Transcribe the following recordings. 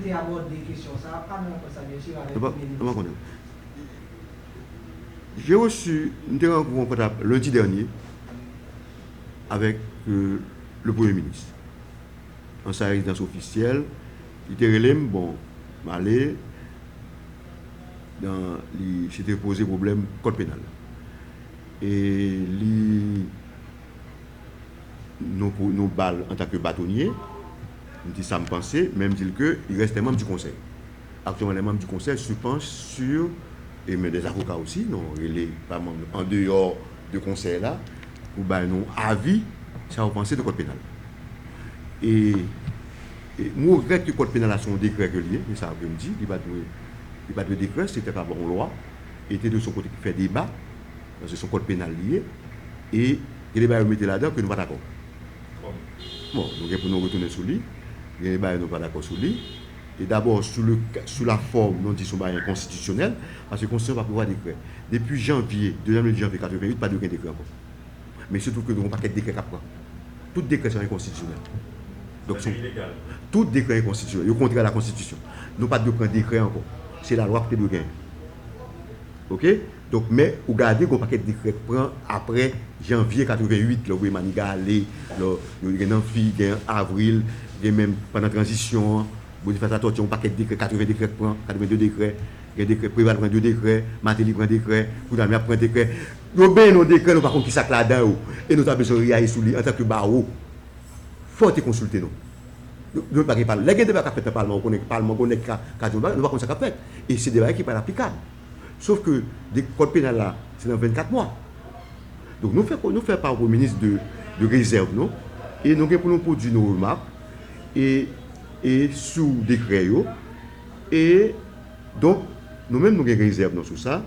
te abòde kesyon sa a pa nan rankont sa a byensi avèk Premye Minis la. J'ai reçu, m te rankontre an kontak lundi dernier avèk le Premye Minis nan sa rezidans ofisyèl, li te rele m, bon m ale nan li se te poze pwoblèm kòd penal e li. non pou nou ba l antan ke batonye, m di sa m panse, men m di l ke il reste manm di konsèy. Aktyèlman lè manm di konsèy se panch sur e men dè avoka osi nou rele pa manm nou an deyò de konsèy la pou bay nou avi sa yo panse de kòd penal la. E e m regrèt ke kòd penal la se yon dekrè ke l ye, se sa ke m di, li pa dwe li pa dwe dekrè, se te ka ba yon lwa e te dwe se yon kote ki fè deba paske se yon kòd penal li ye e Gen de bagay yo mete ladan ke nou pa dakò. Bon, nou gen pou nou retounen sou li. Gen de bagay nou pa dakò sou li. E dabò, sou le, sou la fòm, nou di se yon bagay enkonstitisyonèl, paske konstitisyon pa prevwa dekrè. Depi janvye, dezyèm lendi janvye 88, pa dwe gen dekrè ankò. Men se tou ke nou gen yon pakèt dekrè k ap pran. Tout dekrè sa yo enkonstitisyonèl. Donk se yon, tout dekrè enkonstitisyonèl. Yo kontrè a lakonstitisyon. Nou pa dwe pran dekrè ankò. Se lalwa ki te dwe genyen. Oke? Donk men ou gade gon pakèt dekrè k pran aprè janvye 88 lè yo voye Maniga ale lò yo gen nan fi gen an avril gen menm pandan tranzisyon an Bonifas Latòti yon pakèt dekrè 80 dekrè k pran 82 dekrè gen dekrè Preval pran 2 dekrè Mateli pran dekrè kounya nou ap pran dekrè yo benyen nou dekrè nou pa konn kisa k ladan yo e nou ta bezwen reyayi sou li antanke bawo fò te konsilte nou nou pa gen palman lè gen deba k ap fèt nan palman ou konnen palman gon nèg k ka di yon bagay nou pa konn sa k ap fèt e se de bagay ki pa t aplikab. Sof ke kòd penal la se nan 24 mwa. Donk nou fè nou fè pa Premye Minis de rezèv nou e nou gen pou nou pwodui nou remak e e sou dekrè yo e donk nou menm nou gen rezèv nou sou sa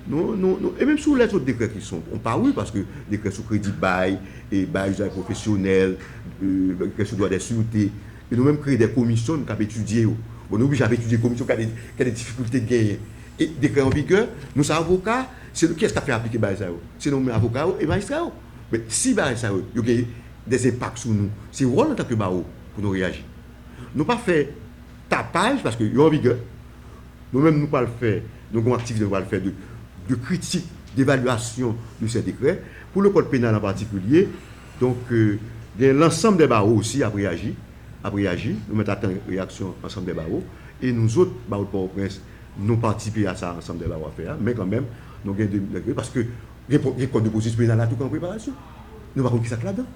nou nou nou e menm sou lèt sou dekrè ki son pa wi paske dekrè sou kredi bay e bay izay pwofesyonèl e dekrè sou dwa dè sirte E nou menm kreye de komisyon k ap etidye yo. Bon nou oblije ap etidye komisyon k gen de difikilte k genyen. E dekrè an vigè, nou se avoka, se nou kiyès k ap fè aplike bagay sa yo? Se nou menm avoka yo e majistra yo. Men si bagay sa yo, yo gen de enpak sou nou, se wòl nou antanke bawo pou nou reyaji. Nou pa fè tapaj paske yo an vigè. Nou menm nou pral fè, nou gen yon aktivite nou pral fè de kritik, devalyasyon de sè dekrè. Pou lekòl penal an patikilye. Donk, gen lansanm dè bawo osi ap reyaji, ap reyaji. Nou mèt ap tann reyaksyon ansanm dè bawo. E nou zot, bawo de Pòtoprens, nou patisipe a sa ansanm dè bawo ap fè a. Men kanmenm, nou gen de nèg yo, paske gen kòd de pwosedi penal la tou ki an preparasyon. Nou pa konn ki sa k ladan.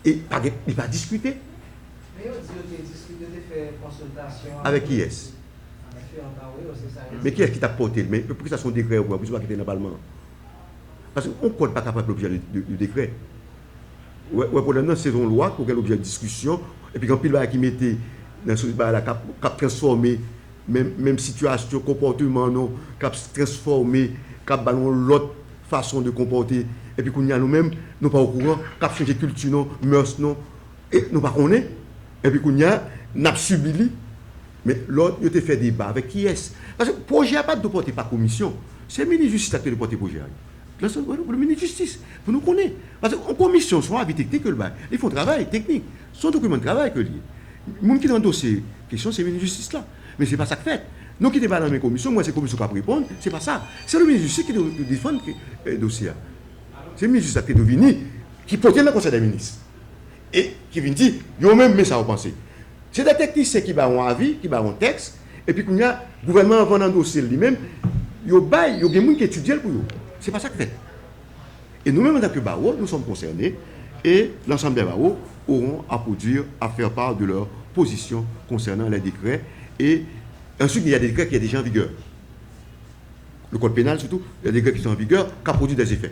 E pa gen, li pa diskite. Men yo di yo te diskite, yo te fè konsiltasyon. Avèk kiyès? Avèk yo ankò, wi, yo se sa yo di. Men kiyès ki t ap pòte l? Men poukisa se yon dekrè yo pran? Poukisa l pa kite l nan palman an? Paske yon kòd pa ka pa gen lobjè de dekrè. Ou wè pwoblèm nan? Se yon lwa ki pou gen lobjè diskisyon epi gen anpil bagay ki mete nan sosyete bagay la k ap transfòme menm sitiyasyon, konpòteman nou, k ap transfòme, k ap ba nou yon lòt fason de konpòte epi kounye a nou menm nou pa okouran, k ap chanje kilti nou, mèrs nou. E nou pa konnen, epi kounye a n ap sibi li. Men lò yo te fè deba avèk kiyès? Paske pwojè a pa t dwe pòte pa komisyon. Se minis jistis la ki te dwe pòte pwojè a. Minis jistis pou nou konnen. Paske yon komisyon se yon avi teknik yo l bay. Li fè yon travay teknik. Se yon dokiman de travay ke li ye. Moun ki nan dosye kesyon se minis jistis la. Men se pa sa k fèt. Nou kite bal nan men komisyon, m wè se komisyon k ap reponn. Se pa sa. Se yon minis jistis ki dwe defann dosye a. Se minis jistis la ki te dwe vini, ki pote l nan konsèy dè minis. e ki vin di yo menm men sa yo panse. Se 2 teknisyen ki bay yon avi, ki bay yon tèks, epi kounye a, gouvènman an vann andose l li menm, yo bay, yo gen moun ki etidye l pou yo. Se pa sa k fèt. E nou menm antanke Bawo, nou sòm konsène, e l'ensemble des barreaux auront à produire, à faire part de leur position concernant les décrets et ensuite il y a des décrets qui est déjà en vigueur. Le code pénal surtout, il y a des décrets qui sont en vigueur, qui a produit des effets.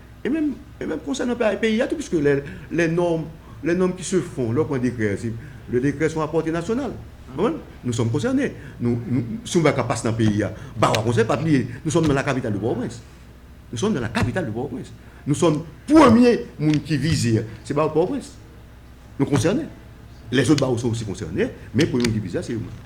E menm, e menm konsènan pa peyi a tou, piske lè, lè nòm, lè nòm ki se fon, lè w pran dekrè, se, lè dekrè son a pòte nasyonal. Ou konprann? Nou sòm konsène. Nou, nou, si yon bagay ka pase nan peyi a, Bawo a konsène, pa bliye, nou sòm nan la kapital de Pòtoprens. Nou sòm nan la kapital de Pòtoprens. Nou sòm premye moun ki vize a, se Bawo Pòtoprens. Nou konsène. Lèzòt Bawo sou osi konsène, men premye moun ki vize a se yo menm.